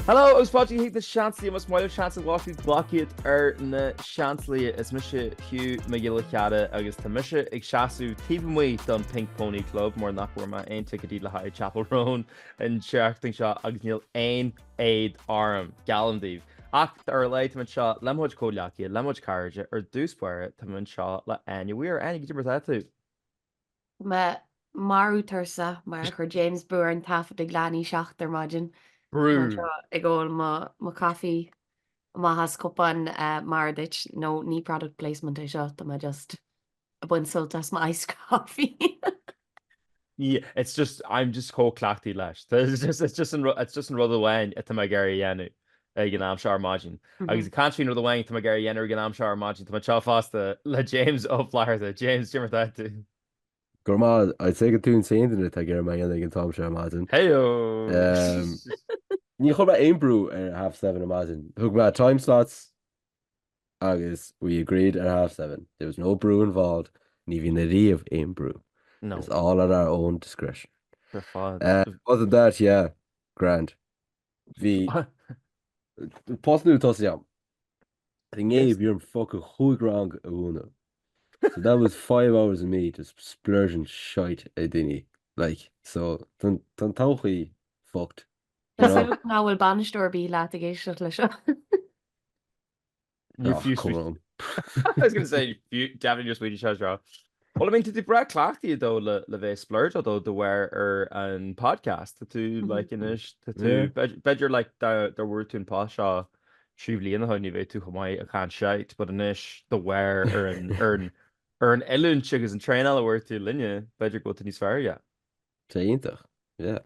Hello agus fáilte go hAoine na Seansálaithe. Más maith leat seans a bhfáil tú ghlac iad ar na Seansálaithe. Is mise Hugh Mac Giolla Chearra agus tá mise ag seasamh taobh amuigh don Pink Pony Club mar nach bhfuair mé aon ticéidí le haghaidh Chappell Roan. an tseachtain seo agus níl aon éad orm, geallaim daoibh. Ach ar a laghad, tá mé anseo le mo chuid comhleacaithe, le mo chuid cairde, ar dtús báire, tá mé anseo le Áine Mhaoir. Áine, caidé mar atá tú? Tá mé marbh tuirseach mar a chuir James brú orainn taifead ag leath i ndiaidh a seacht ar maidin. Brú! Tá mé anseo ag ól mo mo coffee amach as cupán Mara duit, no ní product placement é seo, tá mé just. ag baint sult as mo iced coffee. Yeah, it's just, I'm just chomh cleachtaithe leis. Tá, it's just, it's just an ru-, it's just an rud amháin atá mé ag iarraidh a dhéanamh ag an am seo ar maidin. Agus ag caint faoin rud amháin atá mé ag iarraidh a dhéanamh ag an am seo ar maidin, tá mé anseo fosta le James Ó Flatharta. James, caidé mar atá tú? Go raibh maith agat, I'd say gur tú an t-aon duine atá ag iarraidh mé a dhéanamh ag an t-am seo ar maidin. Heyo! Umm, ní chuir mé aon brú ar half seven ar maidin. Thug mé time slots. agus we agreed at half seven. There was no brú involved, ní bhíonn ariamh aon brú. No. It's all at our own discretion. Ar fad. Other than that, yeah, grand. Bhí post nua tosaithe agam. I think bhí orm fucking chúig rang a mhúineadh. So that was five hours of me just splurging shite ar daoine. Like, so tá an todhchaí fucked. Tá súil agam nach bhfuil bainisteoir ar bith leat ag éisteacht leis seo. Níor fiú smaoineamh. Come on. I was going to say, deamhan níor smaoinigh sé seo. Well, I mean, tá tú breá cleachtaithe though le bheith ag splurgeáil though de bharr ar an podcast. Tá tú, like, anois, tá tú, b'fhéidir, like, dá bhfuair tú an post seo trí bhliain ó shoin ní bheadh tú chomh maith ag caint shite, but anois, de bharr ar an, ar an, ar an oiliúint agus an traenáil a bhfuair tú linne, b'fhéidir go bhfuil tú níos fearr, yeah. Tá iontach, yeah.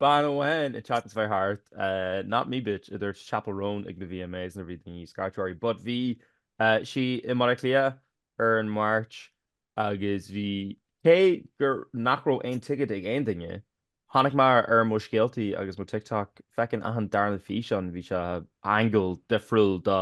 Bean amháin ag chat is bheith thart, not me bitch, a dúirt Chappell Roan ag na VMAs nuair a bhí daoine ag scairtigh uirthi but bhí sí i mBaile Átha Cliath ar an Máirt agus bhí, cé gur nach raibh aon ticéid ag aon duine, tháinig mé ar mo scéaltaí agus mo TikTok, feicinn achan darna físeán bhí sé angle difriúil do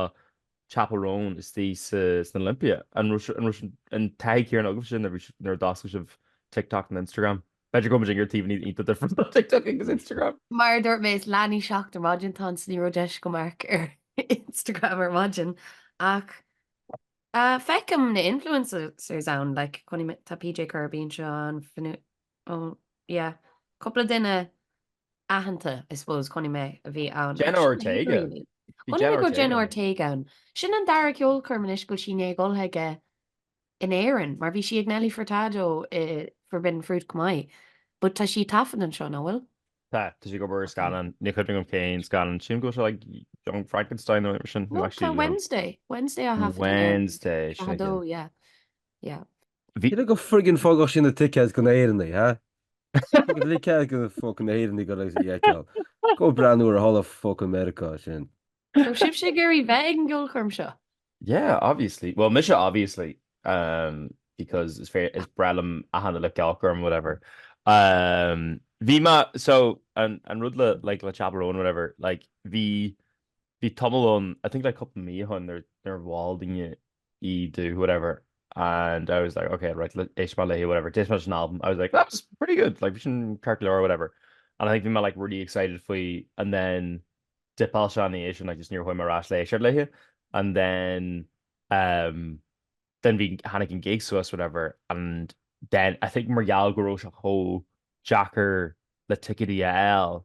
Chappell Roan istoigh sa san Olympia. An raibh an raibh an taithí céanna agaibhse nuair a bhí nuair a d'oscail sibh TikTok nó Instagram? B'fhéidir go bhfuil muid ar thaobhannaí iontach different ó TikTok agus Instagram! Mar a dúirt mé is leath i ndiaidh a seacht ar maidin atá ann so ní raibh deis agam amharc ar Instagram ar maidin ach feicim na influencers ann like chonaic mé tá PJ Kirby anseo an oh yeah cúpla duine aitheanta I suppose chonaic mé a bhí ann. Jenna Sin é, Ortega. really. Bhí Chonaic Jenna mé go Ortega Jenna ann. Ortega ann. Sin an dara ceolchoirm anois go bhfuil sí i ndiaidh goil chuige in Éirinn mar bhí sí ag Nelly Furtado i Forbidden Fruit chomh maith. But tá sí ag taifead anseo, nach bhfuil? Tá, tá sí ag obair ar scannán, níl cuimhne agam cén scannán. Sílim go bhfuil sé like Young Frankenstein nó mar sin. No, No, tá actually, you know. Wednesday. Wednesday á thaifead aige. Wednesday, sin 42, aici. yeah. Yeah. Bhí. Cé go friggin fágadh sí na ticéid go na hÉireannaigh, ha? Fágadh ticéad go na fucking Éireannaigh go raibh sí fheiceáil. Go breathnú uirthi thall i fucking Meiriceá sin. Tá sibhse ag iarraidh bheith ag an gceolchoirm seo? Yeah, obviously. Bhuel, mise obviously um because is fair is breá liom achan uile ceolchoirm whatever. Um bhí mé so an an rud le like le Chappell Roan whatever like bhí bhí tamall ann I think like cúpla mí ann nuair nuair a mhol daoine í domh whatever and I was like ok right éistfidh mé léi whatever d'éist mé leis an album I was like that's pretty good like bhí sin ceart go leor or whatever and I think bhí mé like really excited faoi and then dipeáil sé anois and I just níor chuaigh mé ar ais le éisteacht léi and then um then bhí tháinig an gig suas whatever and then I think mar gheall go raibh sé chomh deacair le ticéidí a fháil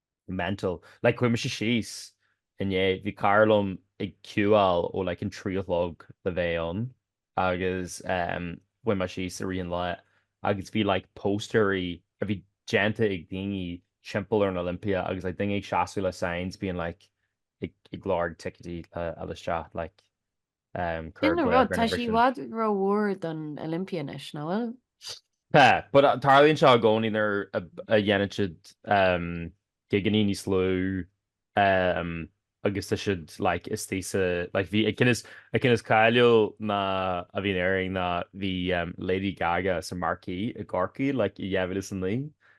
mental. Like chuaigh mise síos inné, bhí cara liom ag ciúáil ó like an trí a chlog le bheith ann agus em chuaigh mé síos i rith an lá agus bhí like póstaeirí a bhí déanta ag daoine timpeall ar an Olympia agus like daoine ag seasamh le signs being like ag ag lorg ticéadaí le fháil isteach like Sin an rud, tá sí i bhfad ró-mhór don Olympia anois, nach bhfuil? Tá, but tarlaíonn seo i gcónaí nuair a dhéanann siad gigeannaí níos lú agus tá siad like is deise like bhí an ceann is cáiliúil ná a bhí in Éirinn ná bhí Lady Gaga sa Marquee i gCorcaigh like i 2009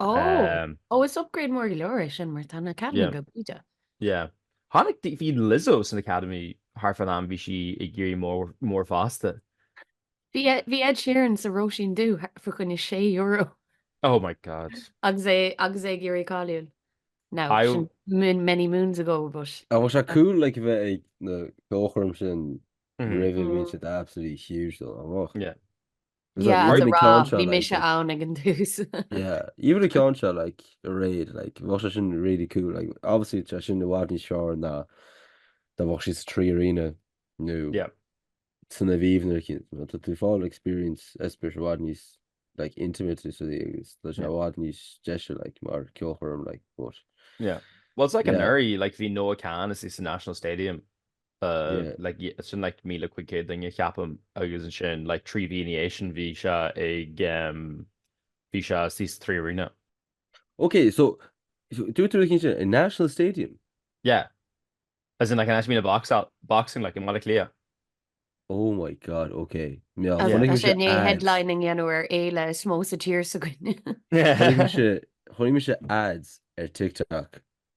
Ó, ó is upgrade mór go leor é sin mar tá an Academy go bídeach. Yeah. Tháinig, bhí Lizzo san Academy thar fán am bhí sí ag éirí mór fosta. Bhí Ed Sheeran sa Róisín Dubh fá choinne €6. Oh my God. Agus é, agus é ag éirí cáiliúil. Now, many moons ago but. Nach bhfuil sé cool like a bheith ag na ceolchoirm sin roimh a bhíonn siad absolutely huge though, um. Yeah. Is that Yeah, as even a the rá, ceann seo bhí like mise ann ag an dtús. yeah even the ceann seo like aréir like bheadh sé sin really cool like obviously tá sin i bhfad níos fearr ná dá bheadh sí sa 3Arena nó Yeah. san Aviva nó cin nó tá tú ag fáil experience espéis i bhfad níos like intimate is í agus tá sé Yeah. i bhfad níos deise like mar ceolchoirm like but Well, it's like Yeah. anuraidh, like bhí Noah Kahan istigh sa National Stadium Like sin like míle cúig céad duine ceapaim agus ansin like trí mhí ina dhiaidh sin bhí sé ag bhí sé suas sa Three Arena. Ok so dúirt tú i National Stadium? Yeah as in like an áit a mbíonn boxing like i mBaile Átha Cliath. Oh my God ok bhuel Agus tá sé in ann headlining a dhéanamh ar fhéile is mó sa tír s'againne. Chonaic mise ads ar TikTok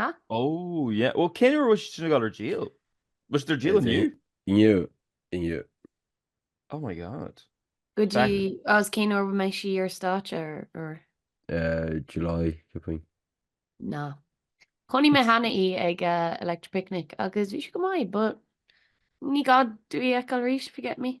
Ha? Oh yeah. Bhuel cén uair a bhfuil siad sin ag dul ar díol? Bhfuil siad ar díol inniu? Inniu. Inniu. Oh my God. Go dtí agus cén uair a mbeidh sí ar stáitse ar ar? Eh, July, ceapaim. No. Chonaic mé cheana í ag uh, Electric Picnic agus bhí sé go maith, but ní gá dom í a fheiceáil arís, if you get me.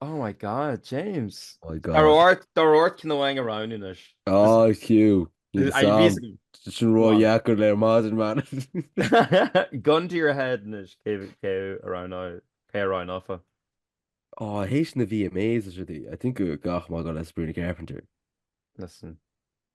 Oh my God, James! My God. Tá ort, tá ort ceann amháin a roghnú anois. This is, Áí fiú, níl this, a I have sam. reason. Sin Go on. ródheacair le maidin man. Gun to your head anois, cé, cé a roghnóidh, cé a roghnófá? Ó, tar éis na VMAs is rudaí. I think go gcaithfidh mé dul le Sabrina Carpenter. Listen.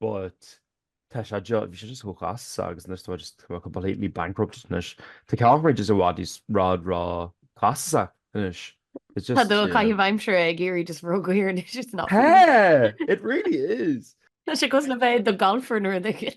But tá sé just, bhí sé just chomh costasach agus anois tá mé just completely bankrupt anois. Tá ceolchoirmeacha just i bhfad níos i bhfad róchostasach anois. It's just, yeah. Tá do chaitheamh aimsire ag éirí just ródhaor anois, it's not fair. Tá! It really is! Tá sé cosúil le bheith i do golfer nó rud éigin.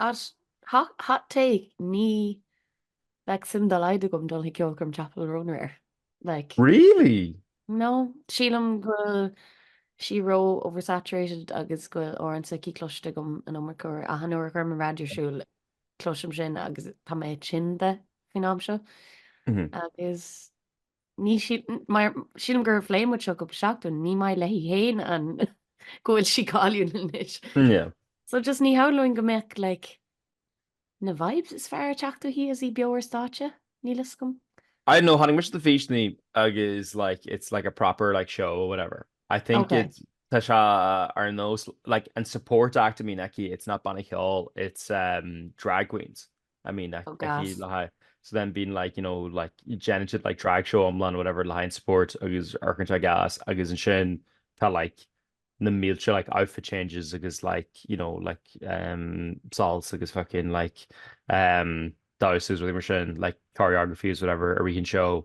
Ach hot take níl like suim dá laghad agam dul chuig ceolchoirm Chappell Roan or like. Really? No, sílim go bhfuil sí ró oversaturated agus go bhfuil amhrán s'aici cloiste agam an iomarca uair. Achan uair a chuirim an raidió ar siúl cloisim sin agus tá mé tinn de faoin am seo. Agus. Ní shílim, mar sílim gur phléigh muid seo cúpla seachtain, ní maith léi féin an go bhfuil sí cáiliúil anois. Yeah. So just ní shamhlóinn go mbeadh like na vibes is fearr ag teacht uaithi is í beo ar stáitse, níl fhios agam. I don't know, chonaic mise na físeáin agus like it's like a proper like show or whatever. I think okay. it tá sé ar nós like an support act a mbíonn aici, it's not banna ceol, it's um, drag queens. I mean like oh gas le haghaidh so then bíonn like you know like déanann siad like drag show iomlán whatever le haghaidh an support agus amharcann sé gas agus ansin tá like na mílte like outfit changes agus like you know like um soilse agus fucking like um damhsa agus rudaí mar sin like choreographies whatever i rith an seó.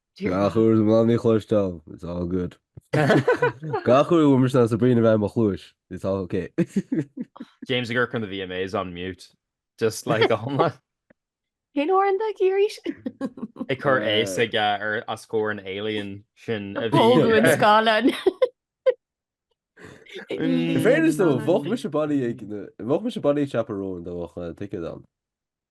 Gach uair is ní gá dom í a chloisteáil, it's all good. Gach uair a bhfuil mise ná Sabrina a bheith i mo chluais, it's all ok. James ag amharc ar na VMAs on mute. Just like go hiomlán. Cén t-amhrán atá aici arís? Ag cur aghaidh s'aige os comhair an alien sin a bhí. Pógadh an scáileáin. In fairness though, bheadh mise bailí ag, bheadh mise bailí ag Chappell Roan dá mbeadh an ticéad ann.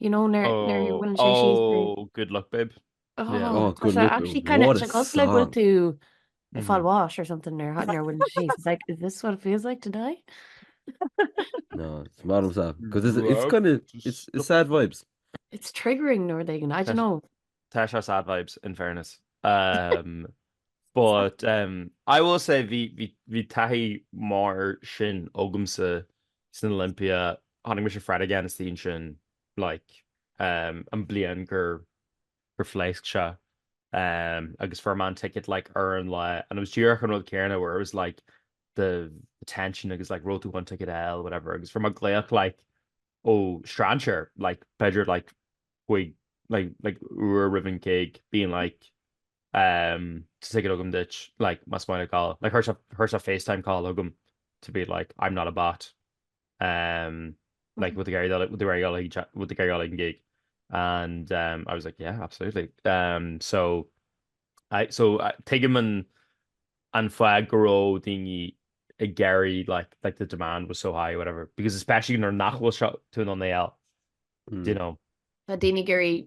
You know nuair a mhoillíonn sé síos. Oh oh good luck babe. Oh good luck babe. Tá sé actually kind of cosúil le go bhfuil tú ag fáil bháis or something nuair a mhoillíonn sé síos. It's like is this what it feels like to die? No, is maith liomsa because it's it's kind of it's it's sad vibes. It's triggering ar dhóigh éigin, I don't know. Tá sé sad vibes in fairness. But em I will say bhí bhí bhí taithí mar sin agamsa san Olympia chonaic mise Fred again istigh ansin like em an bliain gur gur phléasc sé em agus fuair mé an ticket like ar an lá and it was díreach an rud céanna where it was like the tension agus like raibh tú in ann ticket a fháil whatever agus fuair mé glaoch like ó strainséir like b'fhéidir like chuig like like uair roimh an gig being like Tá ticéad agam duit like más mian leat gabháil. Like chuir sé chuir sé FaceTime call chugam to be like I'm not a bot um like bhfuil tú ag bhfuil tú ag iarraidh gabháil ag an gig and um I was like yeah absolutely um so I so I tuigim an an fáth go raibh daoine ag iarraidh like like the demand was so high or whatever because especially nuair nach bhfuil seo tú in ann iad a fháil do you know. Tá daoine ag iarraidh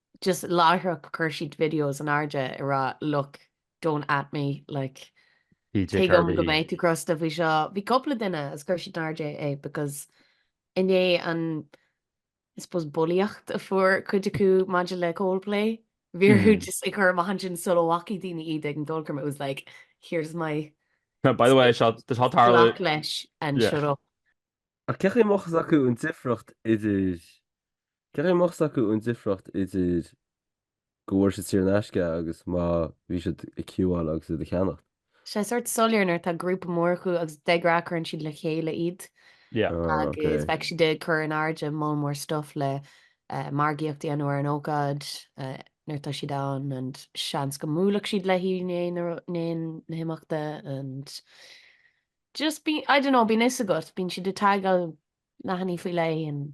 Just láithreach chuir siad videos in airde ag rá look don't at me like tuigim go mbeidh tú crosta faoi seo. Bhí cúpla duine agus chuir siad in airde é because i ndiaidh an I suppose bulaíocht a fuair cuid acu maidir le Coldplay. Bhí orthu just a chur amach ansin sula bhfacaigh daoine iad ag an gceolchoirm it was like here's my Now by the way tá seo ag tarlú glac leis and shut up. Ach cén chaoi a mbeadh a fhios acu an difríocht idir. Cén chaoi a mbeadh a fhios acu an difriocht idir go bhfuair siad saor in aisce agus má bhí siad ag ciúáil agus iad a cheannacht? sé sórt soiléir nuair atá grúpa mór acu agus de ghnáth cuireann siad le chéile iad agus bheadh siad ag cur in airde moll mór stuff le margaíocht a dhéanamh ar an ócáid nuair tá siad ann and seans go mbuailfeadh siad leithí ndéan na himeachta and just bí I don't know bíonn fhios agat bíonn siad ag tagáil leathanaigh faoi leith and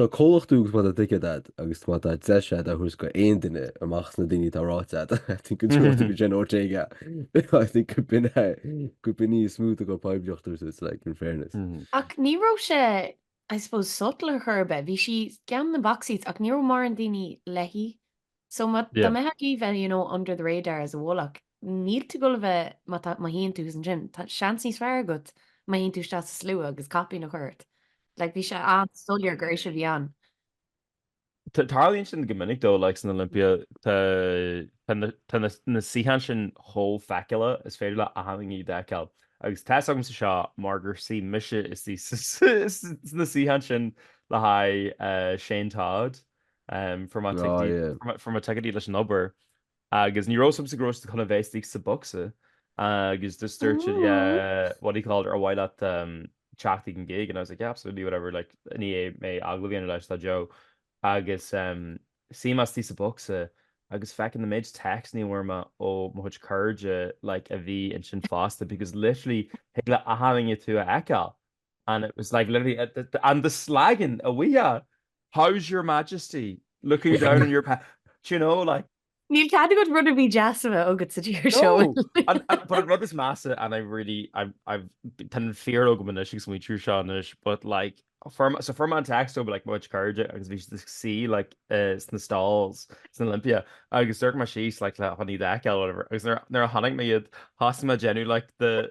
Tá comhlacht agat má tá ticéad agat agus má tá deis agat a thabhairt go aon duine amach as na daoine atá ráite agat, I think go dtabharfadh tú go Jenna Ortega, I think gurb in é, gurb in í is mó a gheobhadh poiblíocht duit so, it's like in fairness. Ach ní raibh sé I suppose subtle ar chor ar bith, bhí sí i gceann na box seats ach ní raibh mórán daoine léi. So má tá mé thart bheith you know under the radar is i bhfolach. Níl tú dul a bheith má tá má shuíonn tú ansin tá seans níos fearr agat má théann tú isteach sa slua agus caipín a chur ort. Like bhí sé an-soiléir gur ise a bhí ann. Tarlaíonn sin go minic though like san Olympia tá tá na suíocháin sin chomh feiceálach is féidir le achan duine iad a fheiceáil. Agus tá's agamsa seo mar gur shuigh mise istigh sna suíocháin sin le haghaidh Shane Todd Ehm fuair mé ticéidí leis an obair agus ní raibh a fhios agamsa go raibh siad chun a bheith istigh sa bocsa agus just dúirt siad yeah Ooh. what do you call it ar mhaith leat ehm teacht ag an gig and I was like yeah absolutely whatever like ní hé mé ag agallamh a dhéanamh leis tá Joe agus ehm shuigh mise istigh sa bocsa agus feckin' an méid téacsannaí a bhfuair mé ó mo chuid cairde like a bhí ansin fosta because literally thig le achan duine tú a fheiceáil and it was like literally a- the- the- and the slagging a bhfaighfeá, how's your majesty, looking down on your pa-, do you know, like. Níl cead agat rud ar bith deas a bheith agat sa tír seo. No! And- and but an rud is measa, and I really, I'm- I'm, tá an fear agam anois ag smaointiú ar seo anois, but like, for- so fuair mé text ó like mo chuid cairde agus bhí siad ag suí like eh, sna stalls san Olympia agus d'amharc mé síos like chun iad a fheiceáil or whatever agus nuair- nuair a chonaic mé iad, thosaigh mé ag déanamh like the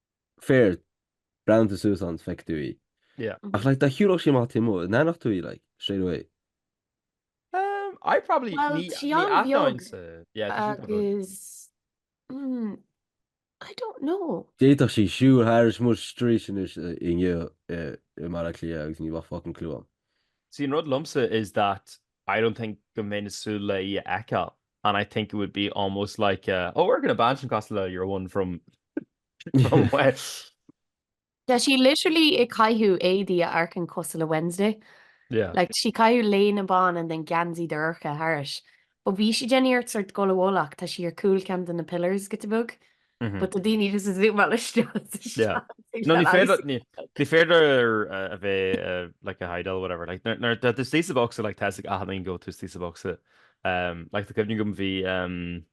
fair, breathnaíonn tú suas ann is feicfidh tú í. Yeah. Ach like dá shiúlfadh sí amach taobh amuigh, an aithneodh tú í like straight away. Umm, I probably, Bhuel, ní, sí ní an-bheag atáim sa, yeah, tá sí go bhfuil. agus mm, I don't know. D'fhéadfadh sí siúl thairis muid sa street anois i, inniu, i, i mBaile Átha Cliath agus ní bheadh fucking clue agam. See, an rud liomsa is that I don't think go mbeinn ag súil le í a fheiceáil. and I think it would be almost like a, oh amharcann an bhean sin cosúil le your one from from Wednesday. Tá sí literally ag caitheamh éadaí a amharcann cosúil le Wednesday. Yeah. Like, sí ag caitheamh léine bhán and then geansaí dorcha thairis. But bhí sí ag déanamh iarracht sort dul i bhfolach, tá sí ar chúl ceann de na pillars giota beag. but tá daoine just ag zúmáil isteach sa Seanad. No, ní féidir, ní, ní féidir a bheith like ag hideáil whatever. Like nuair, nuair tá tú istigh sa bhocsa like tá a fhios ag achan duine go bhfuil tú istigh sa bhocsa. Um, like tá cuimhne agam bhí um,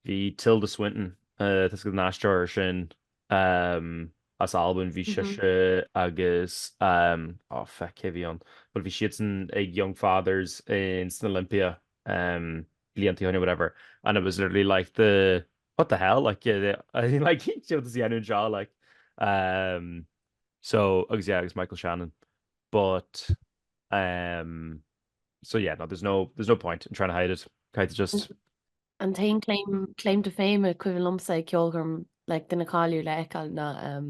bhí Tilda Swinton, uh, tá a fhios agat an t-aisteoir sin um, as Albain, bhí sise agus um, oh feck, cé bhí ann? But bhí siadsan ag Young Fathers insan Olympia um, blianta ó shin or whatever and it was literally like the what the hell like like céard is í ainneoin seo like um so agus yeah agus Michael Shannon but um so yeah no there's no there's no point in trying to hide it caithfidh just An t-aon claim claim to fame a cuimhin liomsa ag ceolchoirm like duine cáiliúil a fheiceáil ná um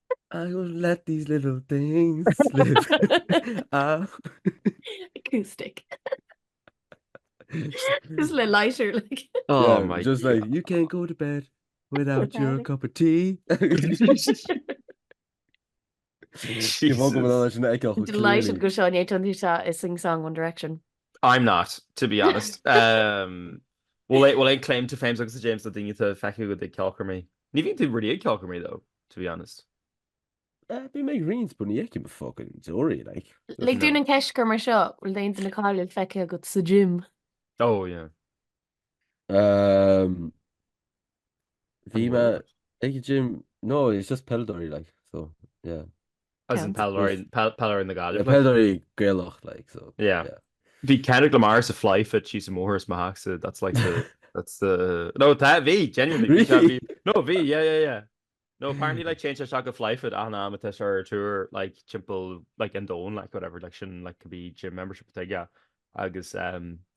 I will let these little things slip. Ah. Acoustic. Just le lighter like. Oh Yeah, my just like you can't go to bed without Without your it. cup of tea. You've all got Jesus. an echo. Delighted go seo é an tá is sing song One Direction. I'm not, to be honest. Um, well, I, well, I claim to fame agus James a daine a feice go ag ceolcharmí. Ní bhín tú ruí ceolcharmí dó. to be honest. Eh, bím ag roinnt but ní fheicim a fucking deoraí, like. Lig dúinn an cheist a chur mar seo, bhfuil aon duine cáiliúil feicthe agat sa gym? Oh yeah. Ehm, bhí mé ag an gym, no, it's just peileadóirí, like, so yeah. as in peileadóirí peileadóirí na Gaillimhe. Peileadóirí Gaelach like so. Yeah. yeah. Bhí Kendrick Lamar sa fly fit sí sa móthir is maach sa that's like the that's the no tá bhí genuinely really? no bhí yeah yeah yeah No, apparently like change like a fly foot and um it's our tour like chimple like in dawn like whatever like shouldn't like could be gym membership thing yeah agus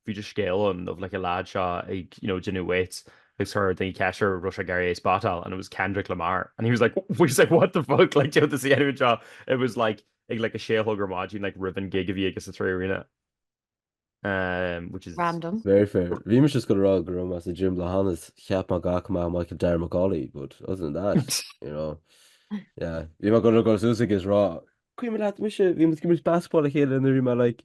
bhí just scéal ann of like a lad seo ag you know déanamh weights agus chuir daoine ceist air raibh sé ag iarraidh spotáil and it was Kendrick Lamar and he was like he was like what the fuck like déanamh is dhéanamh anseo it was like ag like a sé a chlog ar maidin like roimh an gig a bhí aige sa trí arena um, which is random very fair bhí mé just ag rá go raibh mé sa gym le hanas cheap mé go bhfaca mé Michael Darragh McCauley but other than that you know yeah bhí mé ag dul suas is rá cuimhin leat mise bhí muid ag imirt basketball le chéile nuair a bhí mé like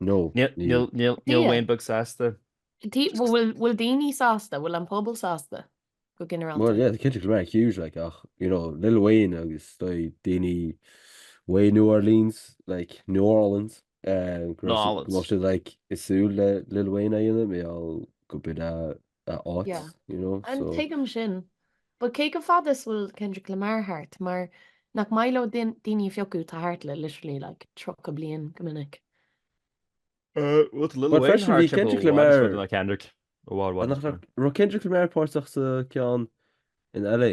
No, níl. Níl Wayne beag sásta. Bhfuil daoine sásta? Bhfuil an pobal sásta go ginearálta? Bhuel, yeah, Kendrick Lamar huge, like, ach, you know, Lil Wayne agus daoine uaidh New Orleans, like, New Orleans, go mbeadh siad, like, ag súil le Lil Wayne a dhéanamh, mar gheall gurb é a a áit, Yeah. you know, And so. tuigim sin. But cé chomh fada is a bhfuil Kendrick Lamar thart mar nach maith leo din- daoine a phiocadh atá thart le literally like 30 bliain go minic. Uh, with Lil But Wayne freisin, bhí hard to Kendrick go Lamar- Lamar. Like Kendrick. Oh, what, what? Nach ra- raibh Kendrick Lamar páirteach sa ceann in LA.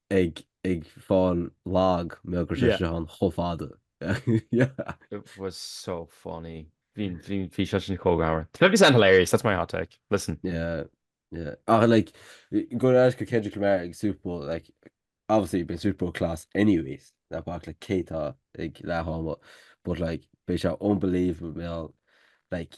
ag ag fáil lag mar gheall go raibh sé seo ann chomh fada yeah. It was so funny. Bhí sé sin chomh greannmhar. 50 Cent hilarious? That's my hot take. Listen. Yeah yeah ach like ag dul ar ais go Kendrick Lamar ag Super Bowl like obviously bíonn Super Bowl class anyways ná bac le cé tá ag leath ama but like beidh sé unbelievable like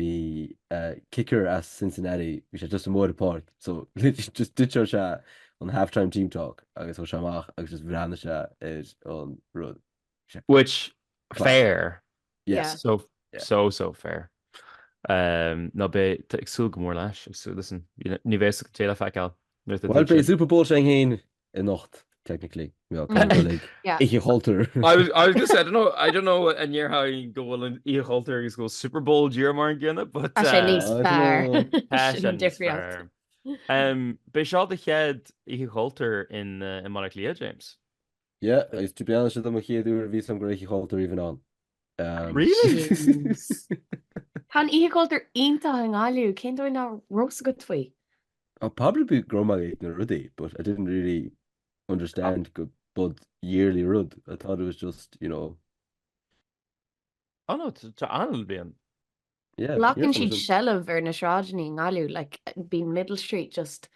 Bhí kicker as Cincinnati, bhí sé just amuigh ar an bpáirc so just ditcheáil sé an half time team talk agus chuaigh sé amach agus just bhreathnaigh sé ar an rud. Bhí sé Which, class. fair. Yes. Yeah. So, Yeah. so, so fair. Um, no, beidh, tá ag súil go mór leis, ag súil, listen, you know, ní bheidh sa- téile a feiceáil nuair atá Bhuel, duit beidh sin. Super Bowl s'againn fhéin anocht technically yeah ag dul ag Yeah. oíche chultúir. I was, I was gonna say, I don't know, I don't know an ndéarfainn go bhfuil an oíche chultúir agus go bhfuil Super Bowl díreach mar an gcéanna, but Tá sé uh, níos I don't fearr. know. tá Sin sé an níos difríocht. fearr. Um, B'é seo do chéad oíche chultúir i, uh, i mBaile Átha Cliath, James. Yeah, agus to be honest with you, mo chéad uair a bhí a fhios agam go raibh oíche chultúir even ann. Really? Tá an oíche chultúir iontach i nGaillimh, cén dóigh nach raibh a fhios agat faoi? I'll probably be go raibh mé ag na rudaí but I didn't really understand go mba yearly rud, I thought it was just, you know. Oh no, tá anall bíonn. Glacann siad seilbh ar na sráideanna i nGaillimh like bíonn Middle Street just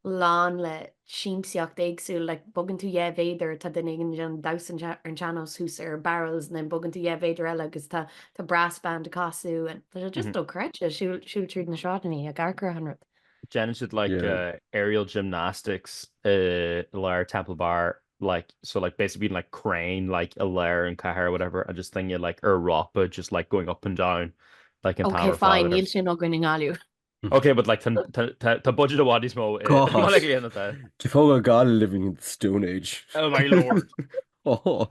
lán le siamsaíocht éagsúil like bogann tú dhá mhéadar tá duine éigin ag déanamh damhsa ar an sean-nós thuas ar barrels and then bogann tú dhá mhéadar eile agus tá tá brass band ag casadh and tá sé just dochreidte siúl siúl tríd na sráideanna ag amharc ar achan rud. Déanann siad like aerial gymnastics i lár Temple Bar like so like basically being like crain like i lár an cathair or whatever and just thing like ar rápa just like going up and down like an tower ok fine níl sin againn i nGaillimh ok but like tá budget a bhfad níos mó i. D'fógair Gaillimh living in the stone age. oh my lord oh.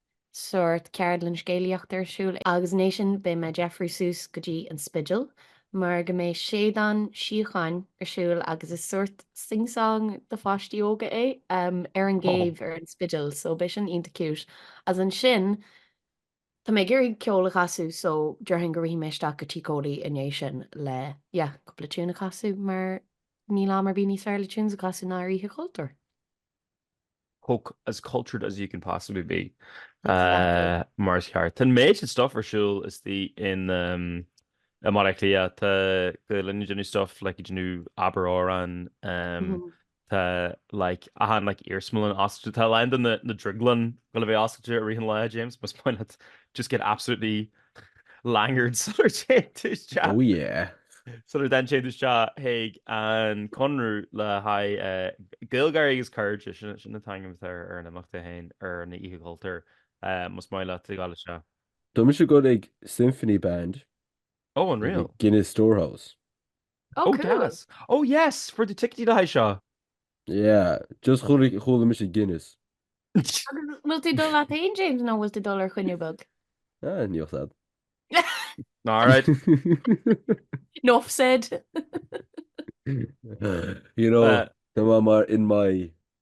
sórt ceardlann scéalaíochta ar siúl agus ina dhiaidh sin beidh mé ag deifriú suas go dtí an Spidéal mar go mbeidh Séideán Sí ar siúl agus is sórt sing song do pháistí óga é ar an gcéibh ar an Spidéal so beidh sin iontach cute agus ansin tá mé ag iarraidh ceol a chasadh so déarfainn go rithfidh mé isteach go Tigh Chóilí ina dhiaidh sin le yeah cúpla tune a chasadh mar níl am ar bith níos fearr le tunes a chasadh ná ar Oíche Chultúir. Fuck as cultured as you can possibly be. Exactly. Mar is ceart. Tá an méid sin stuff ar siúl istigh in i mBaile Átha Cliath. Tá a lán de na stuff like you know Abair Amhrán. Tá like achan like iarsmalann oscailte. Tá a lán de na na drioglann gonna be oscailte i rith an lae James, más maith leat just get absolutely langered sular téann tú isteach. Oh yeah. Sula dtéann tú isteach chuig an Conradh le haghaidh Gaeilgeoirí agus Cairde, sin an t-ainm atá ar an imeacht é féin, ar an Oíche Chultúir, más maith leat a ghabháil isteach. Tá mise ag dul ag Symphony Band. Oh, unreal. Guinness Storehouse. Oh, oh cool. Gas. Oh yes, for the ticéidí le haghaidh seo. Yeah, just chuala mise Guinness. Bhfuil tú dul leat féin James nó bhfuil tú dul ar choinne bheag? Ah, níl fhios agat. All right. Enough said. you know, uh, tá má mar in my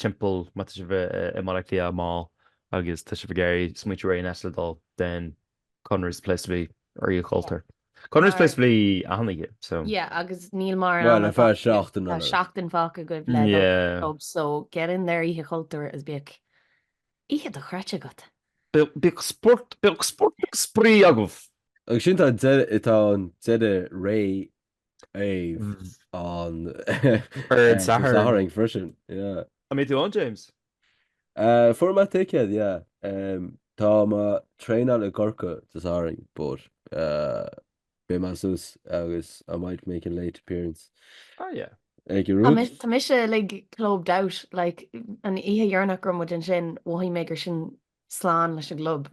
timpeall má tá sibh i mBaile Átha Cliath amach agus tá sibh ag iarraidh smaointiú ar aon áit le dul then Conradh's the place to be ar Oíche Chultúir. Conradh's the place to be achan oíche so. Yeah agus níl mórán ama fágtha agaibh. Bhuel ar feadh seachtain eile. Tá seachtain fágtha agaibh le dul ar an pub so get in there Oíche Chultúir agus bíodh oíche dochreidte agat. Bíodh spórt agus spraoi agaibh. Agus sin tá an deireadh ré. ar an Satharn freisin. An mbeidh tú ann James? Fuair mé ticket yeah. Um, tá mé ag traenáil i gCorcaigh Dé Sathairn but uh, beidh mé suas agus I might make a late appearance. Ah yeah. Ag a rúd. Tá mise like clubbed out like an oíche dheireanach go raibh muid ansin mhothaigh mé gur sin slán leis an gclub.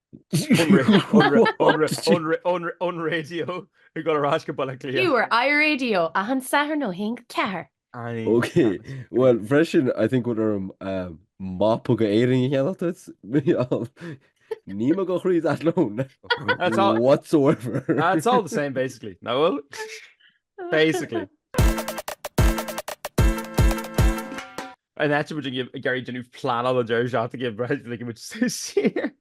On radio i mBaile Átha Cliath. You were iRadio achan Satharn ó haon go ceathair. Ok bhuel freisin I think go bhfuil orm mapa d'Éirinn a cheannach duit Micheál. Níl mo chuid tíreolaíochta ann whatsoever. It's all the same basically, nach bhfuil? Basically. And tá muid ag iarraidh déanamh pleanála an deireadh seachtaine ag breith go ligimid saor.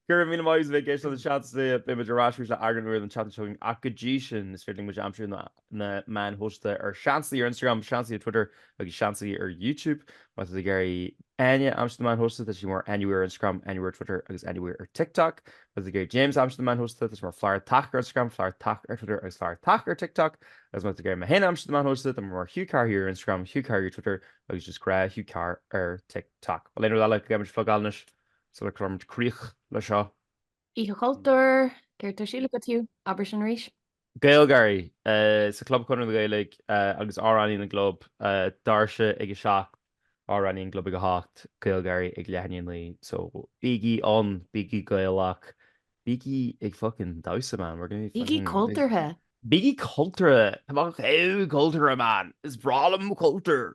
Go raibh míle maith agat a bheith ag éisteacht an seans is é beimid ar ais arís le eagrán úr an tseachtain seo chugainn ach go dtí sin is féidir libh muid a aimsiú ar na meáin shóisialta ar Seansálaithe ar Instagram, Seansálaithe ar Twitter agus Seansálaithe ar YouTube. Má tá tú ag iarraidh Áine a aimsiú ar na meáin shóisialta tá sí mar Áine Weir ar Instagram, Áine Weir ar Twitter agus Áine Weir ar TikTok. Má tá tú ag iarraidh James a aimsiú ar na meáin shóisialta, tá sé mar Flaitheartach ar Instagram, Flaitheartach ar Twitter agus Flaitheartach ar TikTok. Agus má tá tú ag iarraidh mé féin a aimsiú ar na meáin shóisialta, tá mé mar Hugh Carr Here ar Instagram, Hugh Carr Here ar Twitter agus just gnáth Hugh Carr ar TikTok. Bhuel aon rud eile go gcaithfimid a phlugáil anois sula gcuirimid críoch le seo. Oíche Chultúir, céard atá ar siúl agat Hugh? Abair sin arís. GaelGáirí sa Chlub Chonradh na Gaeilge agus Amhránaí na gClub doirse ag 7, Amhránaí na gClub ag 8, GaelGáirí ag leath i ndiaidh 9 so bígí ann, bígí Gaelach, bígí ag fucking damhsa man, we're gonna be Bígí fucking big, cultúrtha! bígí cultúrtha, tá mé chomh cultúrtha man, is breá liom mo chultúr!